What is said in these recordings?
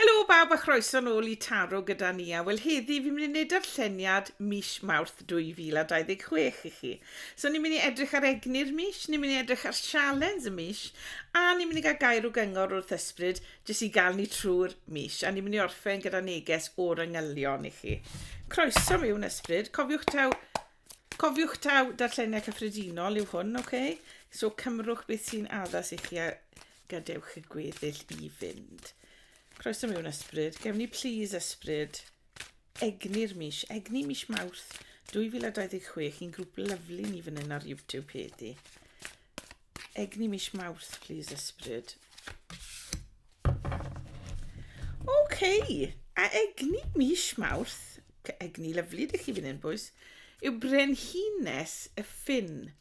Helo bawb a chroeso nôl i Taro gyda Nia. Wel heddi fi'n mynd i neud darlleniad mis Mawrth 2026 i chi. So ni'n mynd i edrych ar egni'r mis, ni'n mynd i edrych ar sialens y mis a ni'n mynd i gael gair o gyngor wrth ysbryd jyst i gael ni trwy'r mis a ni'n mynd i orffen gyda neges o'r angylion i chi. Croeso miwn ysbryd, cofiwch taw cofiwch taw darlleniad cyffredinol yw hwn, oce? Okay? So cymrwch beth sy'n addas i chi a Gadewch y gweddill i fynd. Croeso mewn ysbryd. Gewn ni please ysbryd egni'r mis, egni mis Mawrth 2026, un grŵp lyflu ni fan hyn ar YouTube heddi. Egni mis Mawrth, please ysbryd. OK, a egni mis Mawrth egni lyflu, dych chi fan hyn, bwys, yw brenhines y ffin.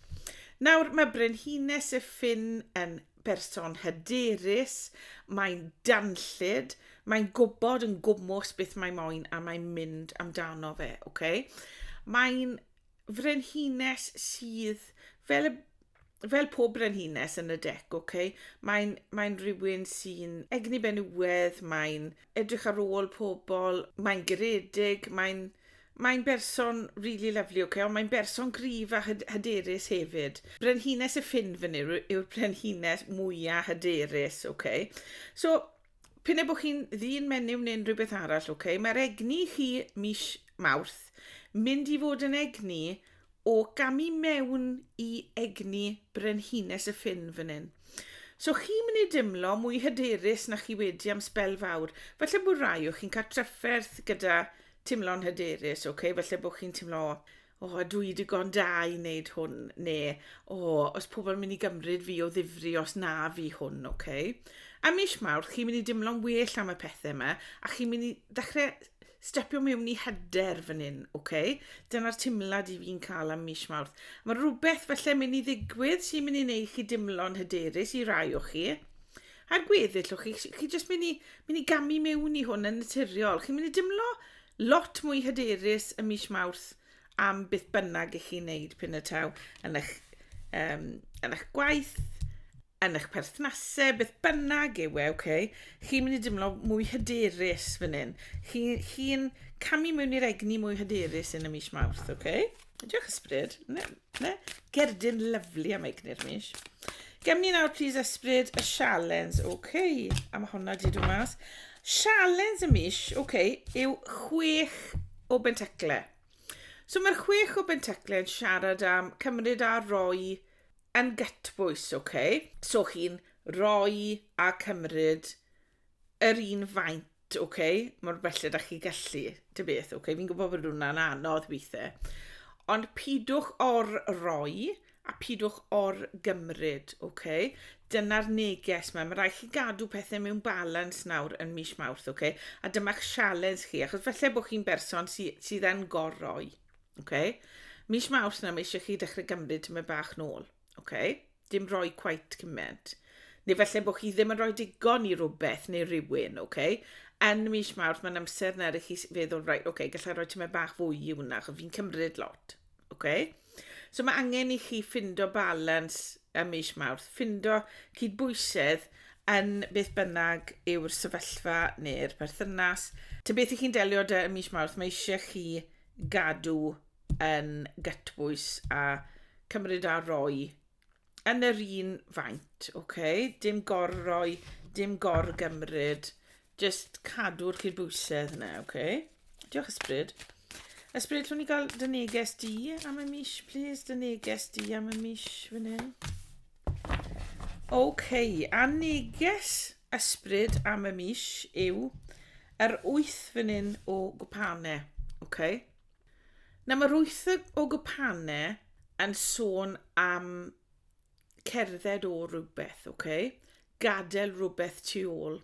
Nawr, mae brenhines y ffin yn berson hyderus, mae'n danllyd, mae'n gwybod yn gwmwys beth mae moyn a mae'n mynd amdano fe, okay? Mae'n frenhines sydd fel y fel pob brenhines yn y dec, ok, mae'n mae rhywun sy'n egni benywedd, mae'n edrych ar ôl pobl, mae'n geredig, mae'n mae'n berson really lovely, ok, ond mae'n berson gryf a hyd hyderus hefyd. Brenhines y ffin fyny yw'r brenhines mwyaf hyderus, ok. So, P'un a bo' chi'n ddyn menyw neu'n rhywbeth arall, ok, mae'r egni chi mis Mawrth mynd i fod yn egni o gamu mewn i egni brenhines y ffin fan hyn. So chi'n mynd i dimlo mwy hyderus na chi wedi am sbel fawr. Falle bod rai o chi'n cael trafferth gyda timlo'n hyderus, ok, falle bod chi'n timlo o, oh, dwi digon da i wneud hwn, neu, o, oh, os pobl yn mynd i gymryd fi o ddifri os na fi hwn, oce? Okay? A mis mawr, chi'n mynd i dimlo'n well am y pethau yma, a chi'n mynd i ddechrau stepio mewn i hyder fan hyn, oce? Okay? Dyna'r timlad i fi'n cael am mis mawr. Mae rhywbeth falle mynd i ddigwydd sy'n mynd i wneud chi dimlo'n hyderus i rai o chi. A'r gweddill o chi, chi jyst mynd i, mynd i gamu mewn i hwn yn naturiol. Chi'n mynd i dimlo Lot mwy hyderus ym mis Mawrth am beth bynnag i chi wneud p'un y taw yn eich, um, yn eich gwaith, yn eich perthnasau, beth bynnag yw e, okay? chi'n mynd i dimlo mwy hyderus fan hyn. Chi'n chi, chi camu mewn i'r egni mwy hyderus yn y mis Mawrth, okay? Diolch ysbryd. Ne, ne. Gerdyn lyflu am eignir mis. Gem ni nawr, please, ysbryd, y sialens. Oce, okay. a mae hwnna wedi dod mas. Sialens y mis, oce, okay, yw chwech o bentacle. So mae'r chwech o bentacle yn siarad am cymryd a roi yn gytbwys, oce? Okay? So chi'n roi a cymryd yr un faint oce okay, mor belled â chi gallu dy beth oce okay? fi'n gwybod bod hwnna'n anodd weithiau ond pidwch or roi a pidwch or gymryd oce okay? dyna'r neges mae mae rhaid chi gadw pethau mewn balans nawr yn mis mawrth oce okay? a dyma'ch sialens chi achos felly bod chi'n berson sy, sydd yn gorroi oce okay? mis mawrth na mae eisiau chi dechrau gymryd tyma bach nôl Ok, dim rhoi quite cymaint. Neu felly bod chi ddim yn rhoi digon i rhywbeth neu rhywun, ok? Yn mis mawrth mae'n amser na i chi feddwl, right, ok, gallai rhoi tymed bach fwy i hwnna, achos fi'n cymryd lot, ok? So mae angen i chi ffindo balans ym mis mawrth, ffindo cydbwysedd yn beth bynnag yw'r sefyllfa neu'r perthynas. Ty beth i chi'n delio dy ym mis mawrth, mae eisiau chi gadw yn gytbwys a cymryd a roi yn yr un faint, oce? Okay? Dim gorroi, dim gorgymryd, just cadw'r cydbwysedd yna, oce? Okay? Diolch ysbryd. Ysbryd, llwn ni gael dy neges di am y mis, please? Dy neges di am y mis fan hyn. Oce, okay, a neges ysbryd am y mis yw yr wyth fan hyn o gwpanau, oce? Okay? Na mae'r wyth o gwpane yn sôn am cerdded o rhywbeth, ok? Gadael rhywbeth tu ôl.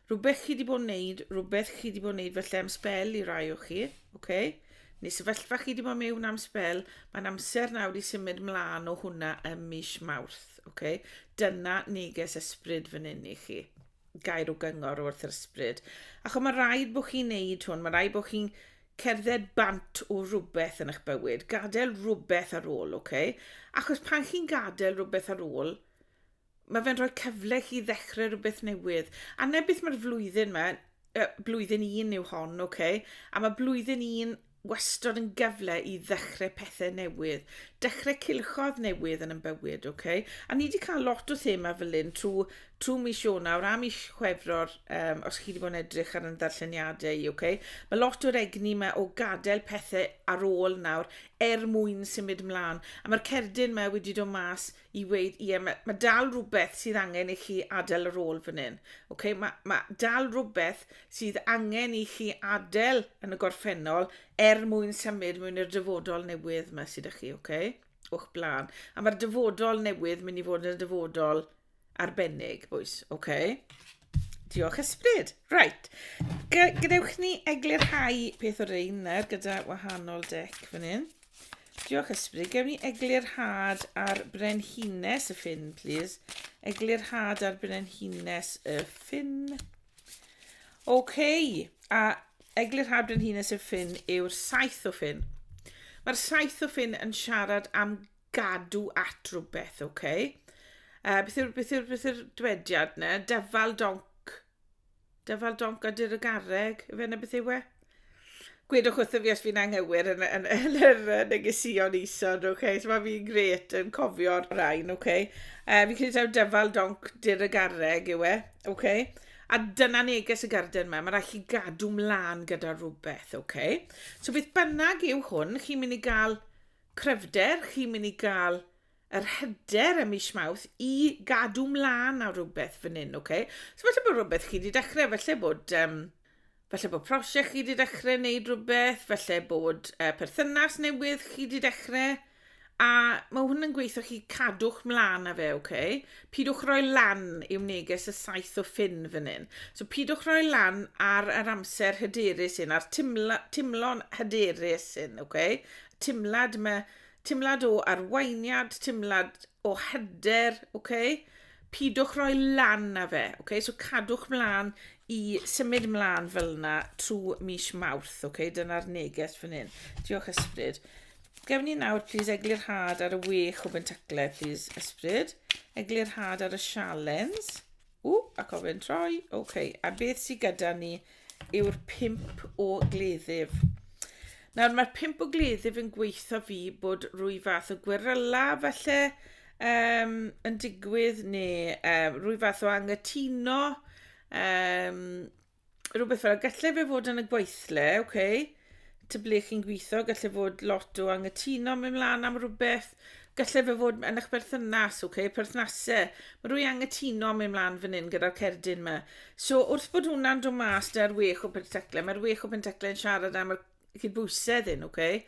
Rhywbeth chi wedi bod yn wneud, rhywbeth chi wedi bod yn wneud felly am spel i rai o chi, ok? Neu sefyllfa chi wedi bod mewn am spel, mae'n amser nawr i symud mlaen o hwnna ym mis Mawrth, ok? Dyna neges ysbryd fan hyn i chi. gair o gyngor wrth yr ysbryd. Achos mae rhaid bod chi'n neud hwn, mae rhaid bod chi'n cerdded bant o rhywbeth yn eich bywyd, gadael rhywbeth ar ôl, oce? Okay? Achos pan chi'n gadael rhywbeth ar ôl, mae fe'n rhoi cyfle chi ddechrau rhywbeth newydd. A ne beth mae'r flwyddyn yma, uh, blwyddyn un yw hon, oce? Okay? A mae blwyddyn un wastad yn gyfle i ddechrau pethau newydd, dechrau cilchodd newydd yn ymbywyd, oce? Okay? A ni wedi cael lot o thema fel hyn trwy, trwy mis Ionawr a mis Chwefror, um, os chi wedi bod yn edrych ar yn ddarlleniadau i, oce? Okay? Mae lot o'r egni yma o gadael pethau ar ôl nawr er mwyn symud ymlaen. A mae'r cerdyn yma wedi dod mas i weud, ie, mae, mae dal rhywbeth sydd angen i chi adael yr ôl fan hyn. Okay? Mae, mae dal rhywbeth sydd angen i chi adael yn y gorffennol er mwyn symud mwyn i'r dyfodol newydd mae sydd â chi, okay? o'ch blaen. A mae'r dyfodol newydd mynd i fod yn y dyfodol arbennig, bwys, okay? Diolch ysbryd. Right. Gadewch ni eglurhau peth o'r ein nawr gyda wahanol dec fan hyn. Diolch ysbryd. Gewn ni eglurhad ar brenhines y ffin, please. Eglurhad ar brenhines y ffin. OK. A eglurhad brenhines y ffin yw'r saith o ffin. Mae'r saith o ffin yn siarad am Gadw at rhywbeth, ok. Uh, beth yw'r beth yw'r beth yw'r dywediad ne? Defal donc. Defal donc a dyr y garreg, efe na beth yw e? gwedwch wrtho fi os fi'n anghywir yn, yn, yn, yn yr negesion isod, oce? Okay? So mae fi'n gret yn cofio'r rhain, oce? Okay? Uh, fi'n credu taw dyfal donc dyr y garreg yw e, oce? Okay? A dyna neges y garden yma, mae rhaid chi gadw mlaen gyda rhywbeth, oce? Okay? So beth bynnag yw hwn, chi'n mynd i gael Cryfder, chi'n mynd i gael yr hyder ym mis Mawrth i gadw mlaen ar rhywbeth fan hyn, ok? So falle bod rhywbeth chi wedi dechrau, falle bod um, falle bod prosiect chi wedi dechrau wneud rhywbeth, falle bod uh, perthynas newydd chi wedi dechrau, a mae hwn yn gweithio chi cadwch mlaen â fe, ok? Pidwch roi lan i'w neges y saith o ffyn fan hyn. So pidwch roi lan ar yr amser hyderus hyn, a'r timla, timlo'n hyderus hyn, ok? timlad, mae timlad o arweiniad, timlad o hyder, okay? pidwch roi lan na fe, okay? so cadwch mlaen i symud mlaen fel yna trwy mis mawrth, okay? dyna'r neges fan hyn. Diolch ysbryd. Gefn ni nawr, plis, eglur had ar y wech o bentaclau, plis, ysbryd. Eglur had ar y sialens. Ww, a cofyn troi. OK, a beth sydd gyda ni yw'r pimp o gleddyf. Nawr, mae'r pimp o gleddyf yn gweithio fi bod rwy fath o gweryla falle um, yn digwydd neu um, rwy fath o angytuno um, rhywbeth fel, gallai fe fod yn y gweithle, oce, okay, ty ble chi'n gweithio, gallai fod lot o angytuno mewn mlaen am rhywbeth, gallai fe fod yn eich berthynas, oce, okay, perthnasau, mae rhywun angytuno mewn mlaen fan hyn gyda'r cerdyn yma. So wrth bod hwnna'n dod mas da'r wech o penteclau, mae'r wech o penteclau yn siarad am y cydbwysedd hyn, oce, okay?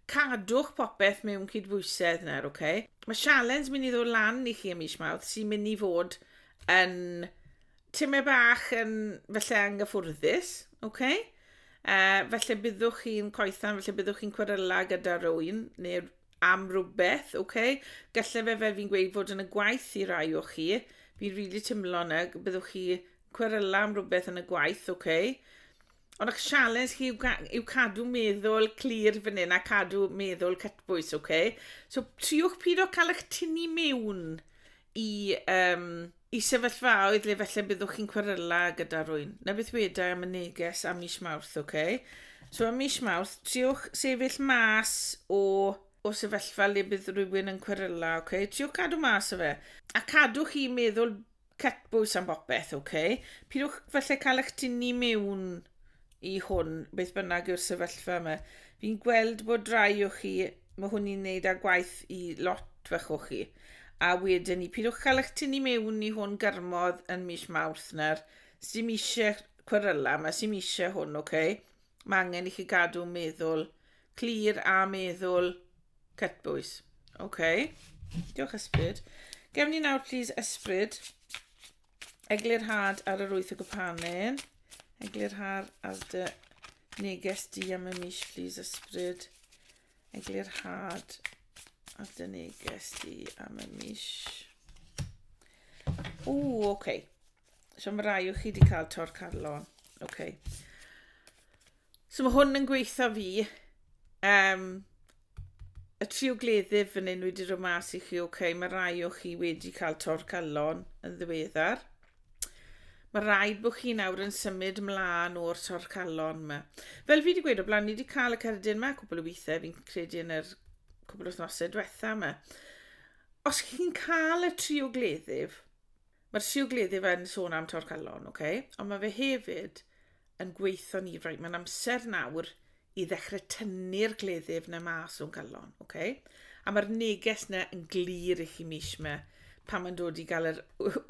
cadwch popeth mewn cydbwysedd nawr, oce. Okay? Mae sialens mynd i ddod lan i chi ym mis Mawrth sy'n mynd i fod yn timau bach yn felly anghyffwrddus, oce? Uh, felly byddwch chi'n coethan, felly byddwch chi'n cweryla gyda rhywun neu am rhywbeth, oce? Gallai fe fel fi'n gweud fod yn y gwaith i rai o chi, fi'n rili really timlo yna, byddwch chi cweryla am rhywbeth yn y gwaith, oce? Ond ych sialens chi yw, ga- yw cadw meddwl clir fan hyn a cadw meddwl cytbwys, oce? Okay? So triwch pyd o cael eich tynnu mewn i, um, i sefyllfaoedd le felly byddwch chi'n cweryla gyda rwy'n. Na beth wedi am y neges am mis mawrth, oce? Okay? So am mis mawrth, triwch sefyll mas o o sefyllfa le bydd rhywun yn cweryla, oce? Okay? Triwch cadw mas o fe. A cadwch chi meddwl Cytbws am bopeth, ok. Pidwch falle cael eich tynnu mewn i hwn, beth bynnag yw'r sefyllfa yma. Fi'n gweld bod rai o chi, mae hwn i'n neud â gwaith i lot fach o chi. A wedyn ni, pidwch cael eich tynnu mewn i hwn gyrmodd yn mis Mawrth nawr. Sdim eisiau cweryla, mae sdim eisiau hwn, ok. Mae angen i chi gadw meddwl clir a meddwl cytbwys. Oce. Okay. Diolch ysbryd. Gewn ni nawr plîs ysbryd. Eglur had ar yr wyth o gypanen. Eglur had ar dy neges di am y mis plîs ysbryd. Eglur had ar dy neges di am y mis. O, oce. Okay. So mae rai o chi wedi cael tor carlon. Okay. So mae hwn yn gweitha fi. Um, y tri o gleddyf fan hyn wedi rhoi mas i chi, oce, okay, mae rai o chi wedi cael tor calon yn ddiweddar. Mae rhaid bod chi nawr yn symud ymlaen o'r tor calon yma. Fel fi wedi gweud o blaen, ni wedi cael y cerdyn yma cwbl o weithiau, fi'n credu yn yr cwbl wythnosau diwetha yma. Os chi'n cael y tri o gleddyf, Mae'r siwgleddyf yn sôn am torcalon, ok? Ond mae fe hefyd yn gweithio ni, right, mae'n amser nawr i ddechrau tynnu'r gleddyf na mas o'n calon, ok? A mae'r neges na yn glir i chi mis yma pan mae'n dod i gael yr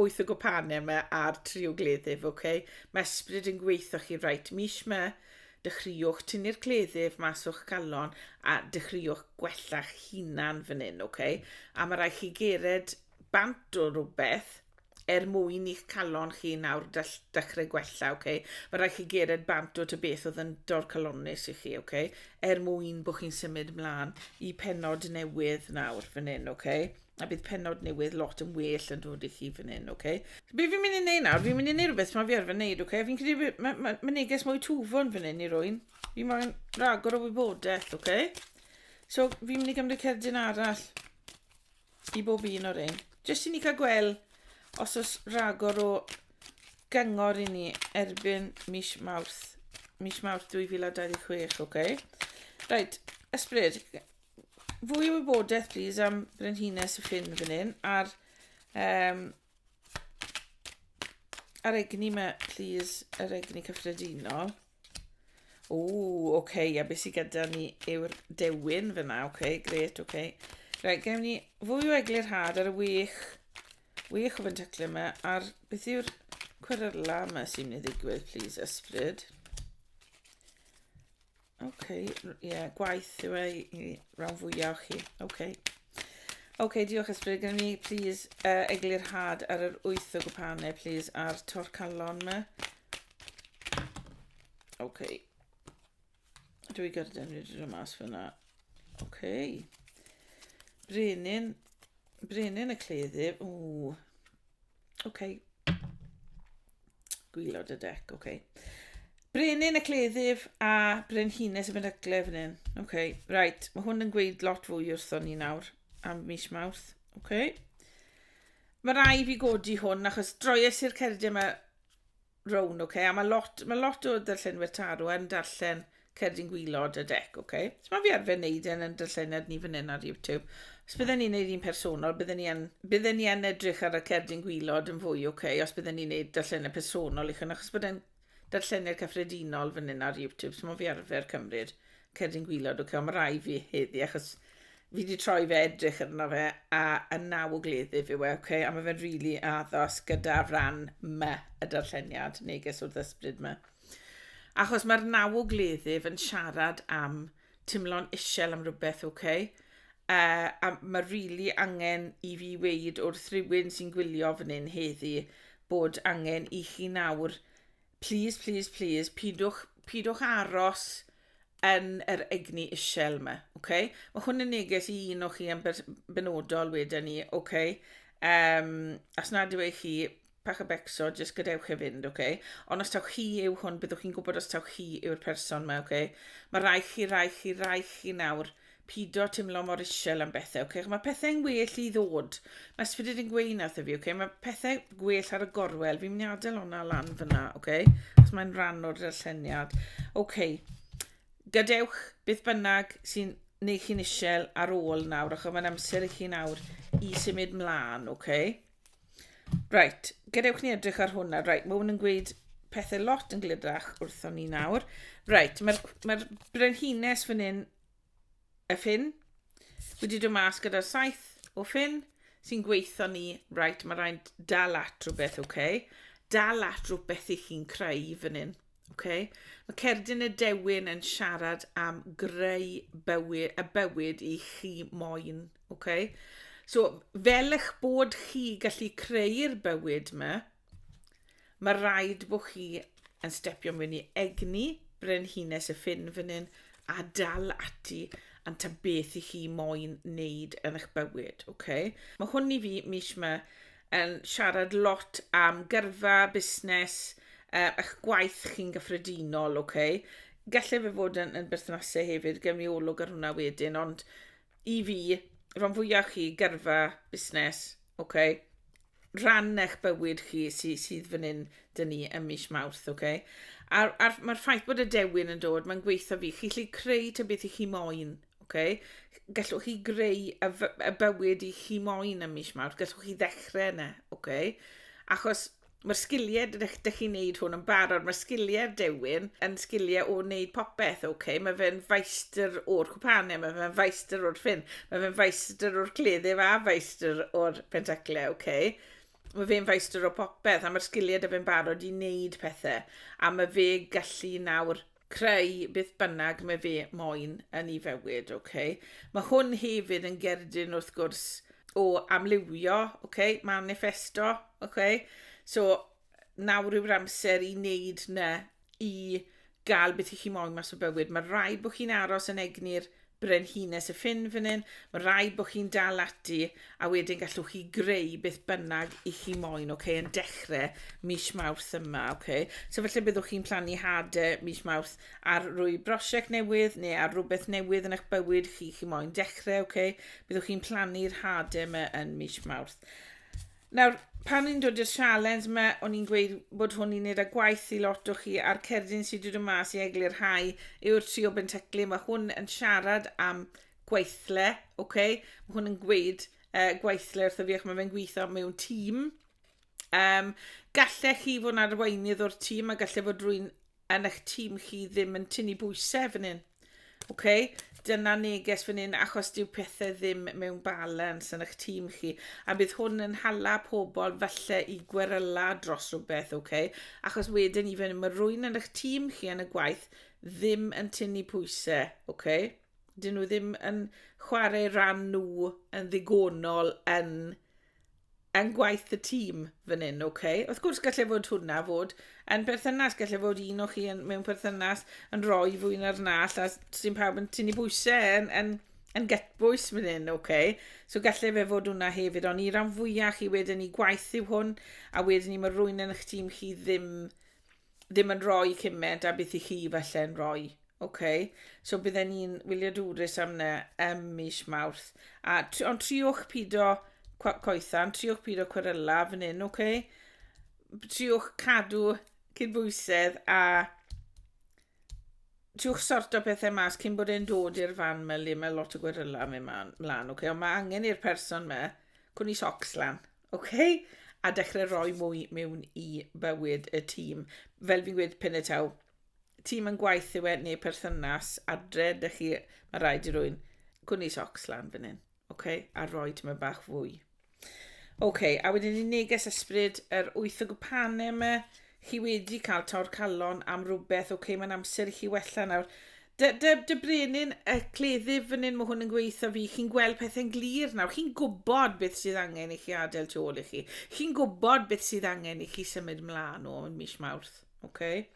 wyth o gopanau yma a'r tri o gleddyf, ok? Mae ysbryd yn gweithio chi, right, mis yma, dechreuwch tynnu'r cleddyf mas o'ch galon a dechreuwch gwella'ch hunan fan hyn, ok? A mae rhaid chi gered bant o rywbeth er mwyn i'ch calon chi nawr dechrau gwella, ok? Mae rhaid chi gered bant o ty beth oedd yn dorcalonnus i chi, ok? Er mwyn bod chi'n symud mlaen i penod newydd nawr fan hyn, ok? A bydd penod newydd lot yn well yn dod i chi fan hyn, ok? Be fi'n mynd i neud nawr, fi'n mynd i neud rhywbeth mae fi arfer neud, ok? Fi'n credu mae ma, ma neges mwy twfon fan hyn i rwy'n. Fi moyn ragor o wybodaeth, ok? So fi'n mynd i gymryd cerdyn arall. i bob un o'r ein. Jyst i ni cael gweld os oes rhagor o gyngor i ni erbyn mis Mawrth, mis Mawrth 2026, oce? Okay? Right, ysbryd, fwy o wybodaeth plîs am Brenhines y Ffin fan hyn, a'r, um, ar egni mae, plîs, yr egni cyffredinol. O, oce, okay, a beth sydd gyda ni yw'r dewin fyna, oce, okay, gret, oce. Okay. Rhaid, gael ni fwy o eglurhad ar y wych, wych o fentaclau yma, a'r beth yw'r cweryla yma sy'n mynd i ddigwydd, please, ysbryd. Oce, okay, ie, yeah, gwaith yw ei i ran fwyaf o chi, oce. Okay. Oce, okay, diolch ysbryd, gen ni, please, uh, eglurhad ar yr wyth o gwpanau, please, a'r torcalon yma. Ok. Dwi i gyrraedd yn rydyn nhw mas fyna. Ok. Brenin. Brenin y cleddyf. Ww. Ok. Gwylod y dec, ok. Brenin y cleddyf a brenhines y benygle fan hyn. Ok, right. Mae hwn yn gweud lot fwy wrthon ni nawr am mis mawrth. Ok. Mae rai fi godi hwn achos droies i'r cerdyn yma Rown, ok, a mae lot, mae lot o darllenwyr tarw yn darllen Cerdyn Gwylod y dec, ok? So mae fi arfer neud e'n yn darlleniad ni fan hyn ar YouTube. Os bydden ni'n neud un personol, bydden ni yn, bydden ni yn edrych ar y Cerdyn Gwylod yn fwy, ok? Os bydden ni'n neud darlleniad personol i chyn, achos bod e'n darlleniad cyffredinol fan hyn ar YouTube, so mae fi arfer cymryd Cerdyn gwylod, ok, ond mae rhai fi heddi, achos fi wedi troi fe edrych arno fe, a yn naw o gleddyf yw e, ok, a mae fe'n rili really addos gyda'r ran my y darlleniad, neges wrth ysbryd my. Achos mae'r naw o gleddyf yn siarad am timlo'n isel am rhywbeth, ok, uh, a mae rili really angen i fi weid wrth rhywun sy'n gwylio fan hyn heddi bod angen i chi nawr Plîs, plîs, plîs, pidwch, pidwch aros yn yr egni isel yma, oce? Okay? Mae hwn yn neges i un o chi yn benodol wedyn ni, oce? Okay? Um, as nad yw eich chi, pach y becso, jyst gadewch e fynd, oce? Okay? Ond os taw chi yw hwn, byddwch chi'n gwybod os taw chi yw'r person yma, oce? Okay? Mae rai chi, rai chi, rai chi nawr pido timlo mor isel am bethe, oce? Mae pethau'n well i ddod. Mae ysbryd yn gweud na wrtho fi, oce? Mae pethau gwell ar y gorwel. Fi'n mynd i adael hwnna lan fyna, oce? Cos mae'n rhan o'r darlleniad. Oce. Gadewch beth bynnag sy'n neu chi'n isel ar ôl nawr, achos mae'n amser i chi nawr i symud mlaen, oce? Right, gadewch ni edrych ar hwnna. Right, mae hwn yn gweud pethau lot yn glydrach wrthon ni nawr. Right, mae'r mae brenhines fan hyn y ffin. Wedi dod mas gyda'r saith o ffin sy'n gweithio ni. Right, mae rhaid dal at rhywbeth, oce? Okay? Dal at rhywbeth i chi'n creu fan hyn. Okay? Mae Cerdyn y Dewin yn siarad am greu bywyd, y bywyd i chi moyn. Okay? So, fel eich bod chi gallu creu'r bywyd yma, Mae rhaid bod chi yn stepio mewn i egni brenhines y ffin fan hyn a dal ati yn ta beth i chi moyn wneud yn eich bywyd, oce? Okay? Mae hwn i fi mis yma yn siarad lot am gyrfa, busnes, uh, eich gwaith chi'n gyffredinol, oce? Okay? Gallai fe fod yn, yn berthnasau hefyd, gen i olwg ar hwnna wedyn, ond i fi, rhan fwyaf chi, gyrfa, busnes, oce? Okay? rhan eich bywyd chi sy, sydd fan hyn dyn ni ym mis Mawrth, oce? Okay? A'r, ar, mae'r ffaith bod y dewin yn dod, mae'n gweithio fi. Chi'n lle creu ta beth i chi moyn, oce? Okay? Gallwch chi greu y, y bywyd i chi moyn ym mis Mawrth, gallwch chi ddechrau yna, oce? Okay? Achos mae'r sgiliau, dych, dych chi'n neud hwn yn barod, mae'r sgiliau'r dewin yn sgiliau o wneud popeth, oce? Okay? Mae fe'n faestr o'r cwpanau, mae fe'n faestr o'r ffyn, mae fe'n faestr o'r cleddyf a faestr o'r Pentacle, ok. Mae fe'n feistr o popeth, a mae'r sgiliau da fe'n barod i wneud pethau. A mae fe gallu nawr creu beth bynnag mae fe moyn yn ei fywyd, ok. Mae hwn hefyd yn gerdyn wrth gwrs o amlywio, ok, manifesto, ok. So, nawr yw'r amser i wneud na i gael beth i chi moyn mas o bywyd. Mae rhaid bod chi'n aros yn egni'r brenhines y ffin fan hyn, mae rhaid bod chi'n dal ati a wedyn gallwch chi greu beth bynnag i chi moyn, okay, yn dechrau mis mawrth yma. Okay. So felly byddwch chi'n plannu hade mis mawrth ar rwy brosiect newydd neu ar rhywbeth newydd yn eich bywyd chi chi moyn dechrau. Okay. Byddwch chi'n plannu'r hade yma yn mis mawrth. Nawr, pan ni'n dod i'r sialens yma, o'n i'n gweud bod hwn i'n neud â gwaith i lot o chi, a'r cerdyn sydd wedi dod mas i eglurhau yw'r tri o Bentecli. Mae hwn yn siarad am gweithle, oce? Mae hwn yn gweud uh, gweithle wrtho fi ac mae fe'n gweithio mewn tîm. Um, gallech chi fod yn arweinydd o'r tîm a gallai fod rwy'n yn eich tîm chi ddim yn tynnu bwysau fan hyn. OK? Dyna neges fan hyn achos dyw pethau ddim mewn balans yn eich tîm chi. A bydd hwn yn hala pobl falle i gweryla dros rhywbeth, OK? Achos wedyn i fynd, mae rwy'n yn eich tîm chi yn y gwaith ddim yn tynnu pwysau, OK? Dyn nhw ddim yn chwarae rhan nhw yn ddigonol yn yn gwaith y tîm fan hyn, ok? Wrth gwrs, gallai fod hwnna fod yn perthynas, gallai fod un o chi yn, mewn perthynas yn rhoi fwy na'r nall, a sy'n pawb yn tynnu bwysau yn, yn, yn gytbwys fan hyn, ok? So gallai fe fod hwnna hefyd, ond i ran fwyaf chi wedyn ni gwaith yw hwn, a wedyn ni mae rwy'n yn eich tîm chi ddim ddim yn rhoi cymaint a beth i chi falle yn rhoi. OK, so bydden ni'n wyliadwrus am na ym mis Mawrth. A, ond triwch pido coethan, triwch pido cweryla fan hyn, OK? Triwch cadw cydbwysedd a tiwch sort o pethau mas cyn bod e'n dod i'r fan mae le mae lot o gweryla mewn mlaen, okay? ond mae angen i'r person me, cwn i socs lan. Ok, a dechrau rhoi mwy mewn i bywyd y tîm. Fel fi'n gweud pennau taw, tîm yn gwaith yw e neu perthynas adre, dych chi, mae rhaid i rwy'n gwni socs lan fan hyn, ok, a rhoi tymau bach fwy. Ok, a wedyn ni neges ysbryd yr wyth o gwpanau yma, chi wedi cael tor calon am rhywbeth, ok, mae'n amser i chi wella nawr. Dy, dy, dy brenin y cleddyf fan hyn, mae hwn yn gweithio fi. Chi'n gweld pethau'n glir nawr. Chi'n gwybod beth sydd angen i chi adael tu ôl i chi. Chi'n gwybod beth sydd angen i chi symud mlaen o yn mis Mawrth. Okay?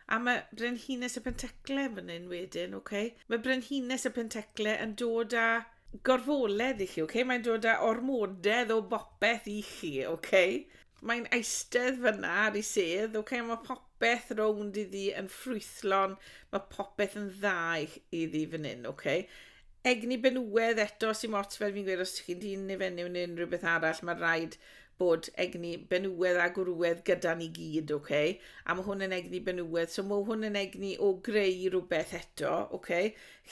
A mae Brenhines y Pentecle fan hyn wedyn, okay? Mae Brenhines y Pentecle yn dod â gorfoledd i chi, okay? Mae'n dod â ormodedd o bopeth i chi, okay? Mae'n eistedd fyna ar ei sedd, ok, a mae popeth rownd iddi yn ffrwythlon, mae popeth yn dda iddi fan hyn, ok. Egni benywedd eto sy'n ots fel fi'n gweud, os chi'n dyn neu fenyw neu unrhyw beth arall, mae rhaid bod egni benywedd a gwrwedd gyda ni gyd, ok. A mae hwn yn egni benywedd, so mae hwn yn egni o greu rhywbeth eto, ok.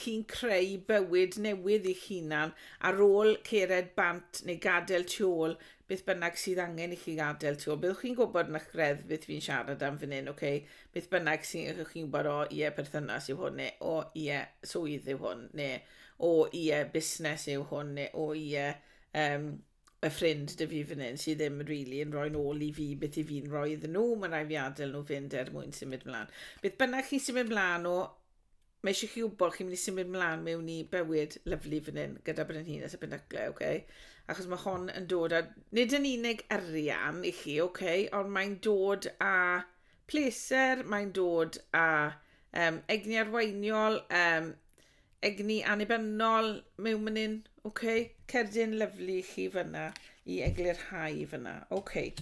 Chi'n creu bywyd newydd i'ch hunan ar ôl cered bant neu gadael tu ôl beth bynnag sydd angen i chi gadael, ti'n gwybod, byddwch chi'n gwybod yn eich greddf beth fi'n siarad am fan hyn, oce, okay? beth bynnag sy'n eich chi'n gwybod, o ie, yeah, perthynas yw hwn, neu o ie, yeah, swydd yw hwn, neu o ie, yeah, busnes yw hwn, neu o ie, yeah, um, y ffrind dy fi fan hyn sydd ddim yn rili really yn rhoi'n ôl i fi beth i fi'n rhoi iddyn nhw, mae'n rhaid fi adael nhw fynd er mwyn symud mlaen. Beth bynnag chi'n symud mlaen o, mae eisiau chi wybod chi'n mynd i symud mlaen mewn i bywyd lyflu fan hyn gyda brenhines a benyglau, oce? Okay? Achos mae hon yn dod â, nid yn unig arian i chi, oce, okay? ond mae'n dod â pleser, mae'n dod â um, egni arweiniol, um, egni annibynnol mewn man hyn, oce? Okay? Cerdyn lyflu chi fyna i eglurhau fyna, oce. Okay.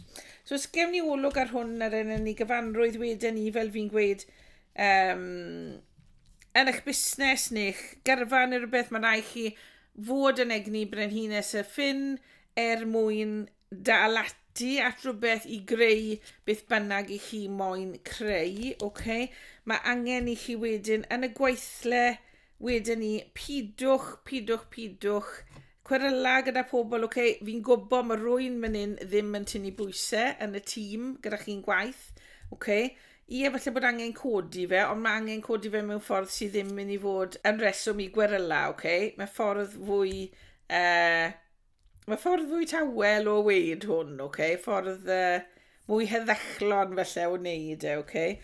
So os gewn ni olwg ar hwn ar enyn ni gyfanrwydd wedyn ni fel fi'n gweud, Um, yn eich busnes neu'ch gyrfa neu rhywbeth, mae'n rhaid chi fod yn egni brenhines y ffin er mwyn dal ati at rhywbeth i greu beth bynnag i chi moyn creu. Okay? Mae angen i chi wedyn yn y gweithle Wedyn ni, pidwch, pidwch, pidwch cweryla gyda pobl, ok, fi'n gwybod mae rwy'n mynd in ddim yn tynnu bwysau yn y tîm gyda chi'n gwaith, ok, i efallai bod angen codi fe, ond mae angen codi fe mewn ffordd sydd ddim mynd i fod yn reswm i gweryla, ok, mae ffordd fwy uh, Mae ffordd fwy tawel o weud hwn, oce? Okay? Ffordd uh, mwy heddechlon felly o wneud e, oce? Okay?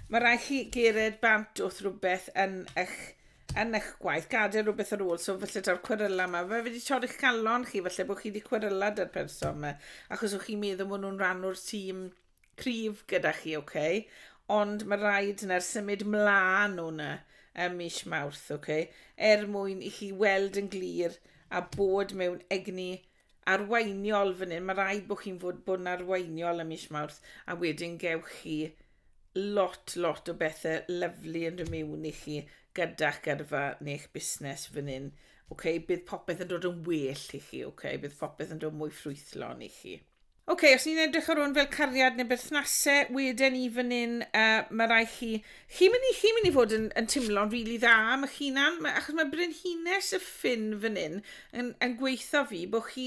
Mae rhaid chi gered bant wrth rhywbeth yn eich, yn eich gwaith, gadael rhywbeth ar ôl, so felly daw'r cweryla yma. Fe wedi torri'ch calon chi, felly bod chi wedi cweryla da'r person yma, achos o'ch chi'n meddwl bod nhw'n rhan o'r tîm cryf gyda chi, ok? Ond mae rhaid na'r symud mlaen o'na ym mis Mawrth, ok? Er mwyn i chi weld yn glir a bod mewn egni arweiniol fan hyn. Mae rhaid bod chi'n fod, bod yn arweiniol ym mis Mawrth a wedyn gewch chi lot, lot o bethau lyflu yn rhymiwn i chi gyda'ch gyrfa neu'ch busnes fan hyn. Ok, bydd popeth yn dod yn well i chi, ok? Bydd popeth yn dod mwy ffrwythlon i chi. Oce, os ni'n edrych ar hwn fel cariad neu berthnase, weden ni fan hyn, uh, mae rai chi... Chi'n mynd i, chi mynd i fod yn, yn timlo'n rili really dda am eich hunan, ma, achos mae brenhines y ffin fan hyn yn, yn gweithio fi bod chi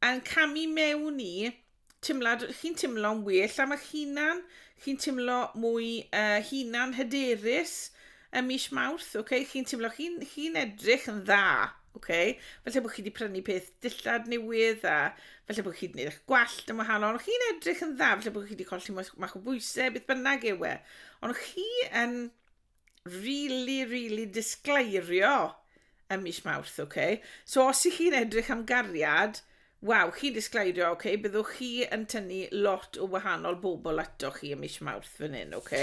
yn camu mewn i timlad, chi'n timlo'n well am eich hunan, chi'n timlo mwy uh, hunan hyderus, Ym mis Mawrth, ok, chi'n teimlo chi'n chi edrych yn dda, ok? Felly bod chi wedi prynu peth dillad newydd a felly bod chi wedi gwneud eich gwallt yn wahanol. Chi'n edrych yn dda, felly bod chi wedi colli mach o bwysau, beth bynnag yw e. Ond chi yn really, really disgleirio Ym mis Mawrth, ok. So os i chi'n edrych am gariad, waw, chi'n disgleirio, ok, byddwch chi yn tynnu lot o wahanol bobl ato chi ym mis Mawrth fan hyn, ok.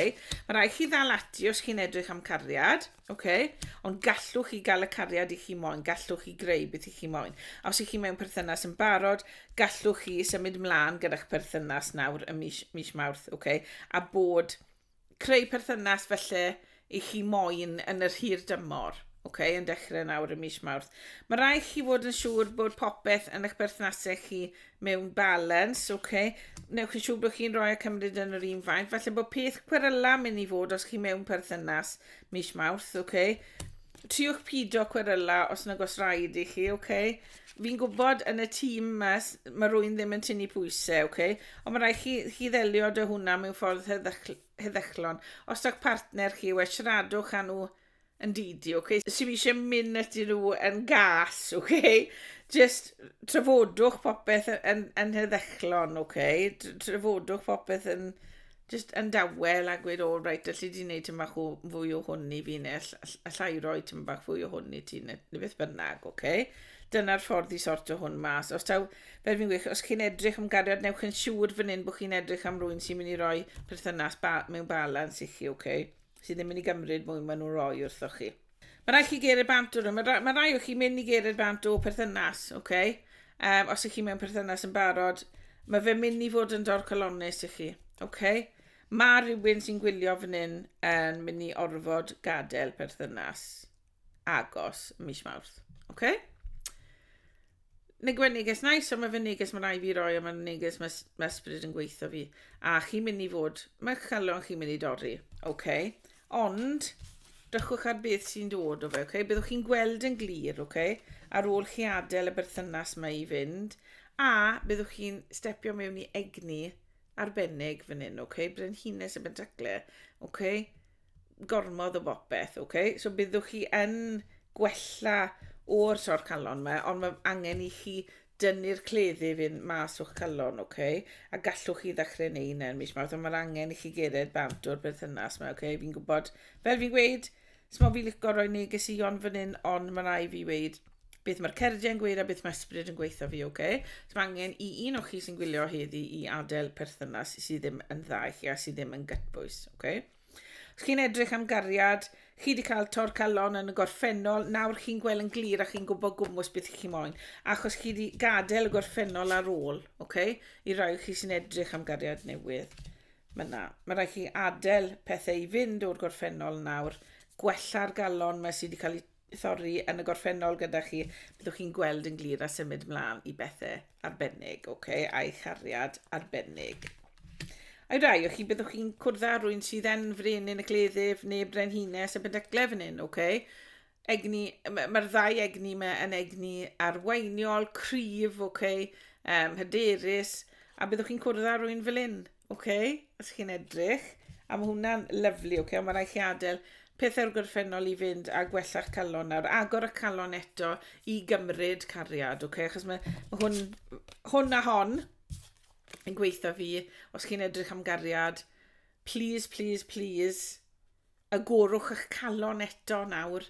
Mae rai chi ddal ati os chi'n edrych am cariad, ok. Ond gallwch chi gael y cariad i chi moyn, gallwch chi greu beth i chi moyn. A os i chi mewn perthynas yn barod, gallwch chi symud mlaen gyda'ch perthynas nawr ym mis, mis Mawrth, ok. A bod creu perthynas felly i chi moyn yn yr hir dymor, okay, yn dechrau nawr y mis Mawrth. Mae rhaid chi fod yn siŵr bod popeth yn eich berthnasau chi mewn balans, okay. Newch yn siŵr bod chi'n rhoi a cymryd yn yr un faint. Falle bod peth cweryla mynd i fod os chi mewn perthynas mis Mawrth, okay. Triwch pido cweryla os nag os rhaid i chi, okay. Fi'n gwybod yn y tîm ma s- ma' rywun ddim yn tynnu pwyse, ocê, ond ma' raid chi chi ddelio 'da hwnna mewn ffordd heddychl- heddychlon. Os yw'ch partner chi, wel siaradwch â nhw yn didi, ocê? Os yw isie mynd atyn nhw yn gas, ocê, jyst trafodwch popeth y- yn yn heddychlon, ocê? Tr- trafodwch popeth yn jyst yn dawel a gweud, o, reit, allu di wneud tyn bach o fwy o hwn i fi, neu allai roi tyn bach fwy o hwn i ti, neu beth bynnag, oce? Okay? Dyna'r ffordd i sort o hwn mas. Os taw, fel fi'n gweud, os chi'n edrych am gariad, newch yn siŵr fan hyn bod chi'n edrych am rwy'n sy'n mynd i roi perthynas ba mewn balans i chi, oce? Okay? Sydd ddim yn mynd i gymryd mwy maen nhw'n rhoi wrthoch chi. Mae rhaid chi geiriau bant o nhw. Mae, mae rhai o chi mynd i geiriau bant o perthynas, oce? Okay? Um, os ych chi mewn perthynas yn barod, mae fe mynd i fod yn dorcalonus i chi, oce? Okay? Mae rhywun sy'n gwylio fan hyn yn mynd i orfod gadael perthynas agos mis Mawrth, oce? Okay? Mae gwen neges nice, ond mae fy neges mae rai fi roi, ond mae neges mae ma ysbryd yn gweithio fi. A chi'n mynd i fod, mae'ch calon chi'n mynd i dorri. OK. Ond, drychwch ar beth sy'n dod o fe, OK. Byddwch chi'n gweld yn glir, OK. Ar ôl chi adael y berthynas mae i fynd, a byddwch chi'n stepio mewn i egni arbennig fan hyn, OK. Brenhines y bentacle, OK. gormod o bopeth, ok? So byddwch chi yn gwella o'r tor calon yma, ond mae angen i chi dynnu'r cleddu fynd mas o'ch calon, ok? A gallwch chi ddechrau neu hynna yn mis mawrth, ond mae'r angen i chi gered bant o'r berthynas yma, ok? Fi'n gwybod, fel fi'n gweud, smo fi licio roi neges i ond fan hyn, ond mae rai fi weid beth mae'r cerdiau yn gweud a beth mae ysbryd yn gweithio fi, ok? So mae angen i un o'ch chi sy'n gwylio heddi i adael perthynas sydd ddim yn dda i chi a sydd ddim yn gytbwys, ok? Chi'n edrych am gariad, chi wedi cael tor calon yn y gorffennol, nawr chi'n gweld yn glir a chi'n gwybod gwmwys beth chi'n moyn, achos chi wedi gadael y gorffennol ar ôl, okay? i rai chi sy'n edrych am gariad newydd. Mae yna, mae rhaid chi adael pethau i fynd o'r gorffennol nawr, gwella'r galon mae sydd wedi cael ei thorri yn y gorffennol gyda chi, byddwch chi'n gweld yn glir a symud mlaen i bethau arbennig, oce, okay, a'i chariad arbennig. A'i rai o chi, byddwch chi'n cwrdd â rwy'n sydd yn frin yn y cleddyf neu brenhines y bydyglau fan hyn, oce? Okay? Egni, mae'r ddau egni yma yn egni arweiniol, cryf, oce, okay? um, hyderus, a byddwch chi'n cwrdd â rwy'n fel hyn. Oce, okay, os chi'n edrych. A mae hwnna'n lyflu, oce, okay, ond mae rhaid chi adael pethau'r gorffennol i fynd a gwella'ch calon nawr. Agor y calon eto i gymryd cariad, oce, okay, achos mae, mae hwn, hwn a hon yn gweithio fi. Os chi'n edrych am gariad, please, please, please, agorwch eich calon eto nawr.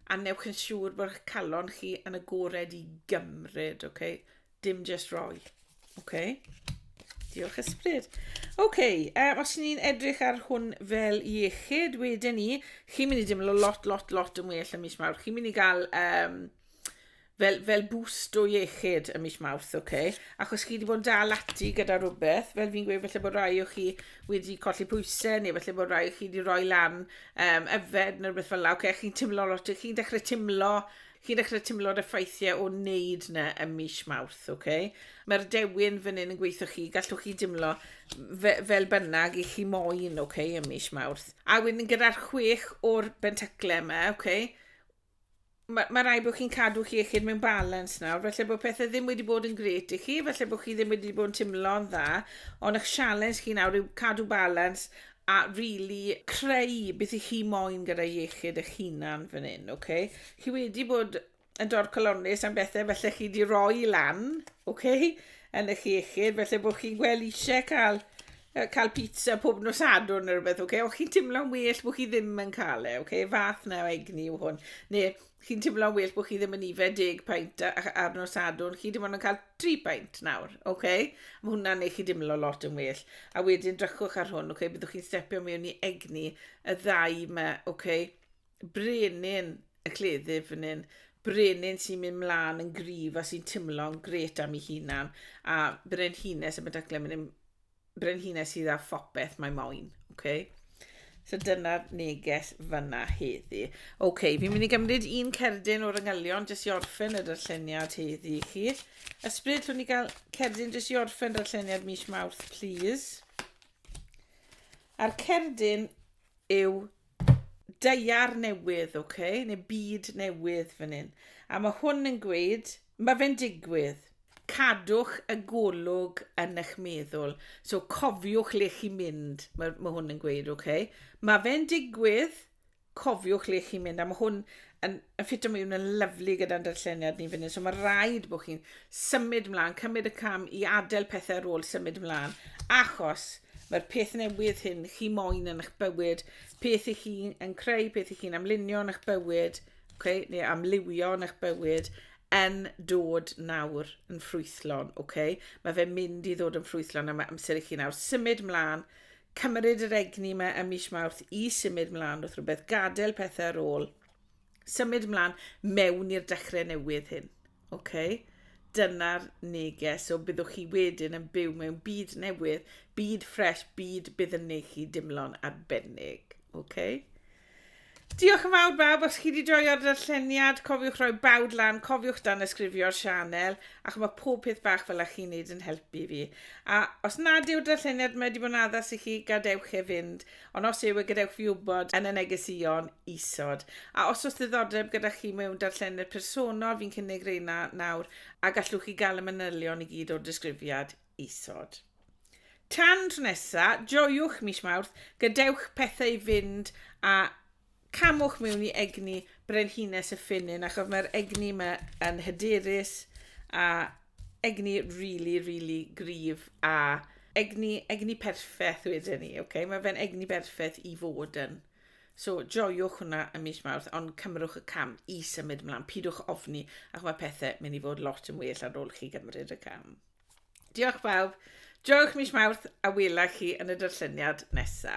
A wnewch yn siŵr bod eich calon chi yn agored i gymryd, oce? Okay? Dim just roi, oce? Okay? Diolch ysbryd. Oce, okay, um, os ni'n edrych ar hwn fel iechyd, wedyn ni, chi'n mynd i deimlo lot, lot, lot yn well yn mis mawr. Chi'n mynd i gael um, fel, fel boost o iechyd ym mis Mawrth, oce? Okay? Achos chi wedi bod yn dal ati gyda rhywbeth, fel fi'n gweud, felly bod rhai o chi wedi colli pwysau, neu felly bod rhai o chi wedi rhoi lan um, yfed neu rhywbeth fel la, oce? Okay? Chi'n teimlo lot, chi'n dechrau teimlo chi'n dechrau teimlo'r effeithiau o wneud na ym mis Mawrth, oce? Okay? Mae'r dewin fan hyn yn gweithio chi, gallwch chi dimlo fe, fel bynnag i chi moyn, oce, okay, ym mis Mawrth. A wedyn gyda'r chwech o'r bentaclau yma, oce, okay, ma' ma' raid bod chi'n cadw'ch iechyd mewn balans nawr, falle bod pethau ddim wedi bod yn grêt i chi, falle bod chi ddim wedi bod yn timlo'n dda, ond eich sialens chi nawr yw cadw balans a rili creu beth i chi moyn gyda iechyd eich hunan fan hyn, oce? Okay? Chi wedi bod yn dorcalonnus am bethau felly chi wedi rhoi lan, oce? Okay? Yn eich iechyd, felly bod chi'n gweld eisiau cael cael pizza pob nos adwn neu rhywbeth, okay? o chi'n timlo'n well bod chi ddim yn cael e, okay? fath na o egni yw hwn, neu chi'n timlo'n well bod chi ddim yn ife deg paint ar nos adwn, chi ddim ond yn cael tri paint nawr, okay? mae hwnna'n ei chi dimlo lot yn well, a wedyn drychwch ar hwn, okay? byddwch chi'n stepio mewn i egni y ddau yma, okay? Brenin y cleddyf fan hyn. Brenin sy'n mynd mlaen yn gryf a sy'n timlo'n gret am ei hunan. A brenhines y medyglau mynd yn brenhines sydd â phopeth mae moyn. Okay? So dyna'r neges fyna heddi. Oce, okay, fi'n mynd i gymryd un cerdyn o'r yngylion jyst i orffen y darlleniad heddi i chi. Ysbryd, llwn ni gael cerdyn jyst i orffen darlleniad mis Mawrth, please. A'r cerdyn yw daear newydd, oce, okay? neu byd newydd fan hyn. A mae hwn yn gweud, mae fe'n digwydd. Cadwch y golwg yn eich meddwl. So cofiwch le chi'n mynd, mae, mae hwn yn gweud, oce. Okay? Mae fe'n digwydd, cofiwch le chi'n mynd. A mae hwn yn, yn ffit o mewn yn lyflu gyda'n darlleniad ni fan hyn. So mae rhaid bod chi'n symud mlaen, cymryd y cam i adael pethau ar ôl symud mlaen. Achos mae'r peth newydd hyn chi moyn yn eich bywyd, peth i chi yn creu, peth i chi'n amlunio yn eich bywyd, okay, neu amlywio yn eich bywyd, yn dod nawr yn ffrwythlon. Okay? Mae fe'n mynd i ddod yn ffrwythlon a mae amser i chi nawr symud mlaen, cymryd yr egni yma ym mis Mawrth i symud mlaen wrth rhywbeth, gadael pethau ar ôl, symud mlaen mewn i'r dechrau newydd hyn. Okay? Dyna'r neges, so byddwch chi wedyn yn byw mewn byd newydd, byd ffres, byd bydd yn neud chi dimlo'n arbennig. Okay? Diolch yn fawr bawb, os chi 'di joio'r darlleniad, cofiwch roi bawd lan, cofiwch danysgrifio'r sianel, achos mae pob peth bach fel a chi'n neud yn helpu fi. A os nad yw'r darlleniad mae 'di bod yn addas i chi, gadewch e fynd, ond os yw e gadewch fi wybod yn y negesïon isod. A os oes ddiddordeb gyda chi mewn darlleniad personol, fi'n cynnig reina nawr, a gallwch chi gael y manylion i gyd o'r disgrifiad. isod. Tan tro nesa, joiwch mis Mawrth, gadewch pethau fynd a camwch mewn i egni Brenhines y Ffynnin achos mae'r egni yma yn hyderus a egni really, really gryf a egni, egni perffaith wedyn ni, okay? mae fe'n egni berffaith i fod yn. So, joiwch hwnna ym mis Mawrth, ond cymrwch y cam i symud ymlaen. Pidwch ofni, ac mae pethau mynd i fod lot yn well ar ôl chi gymryd y cam. Diolch bawb. Joiwch mis Mawrth a wela chi yn y darlleniad nesa.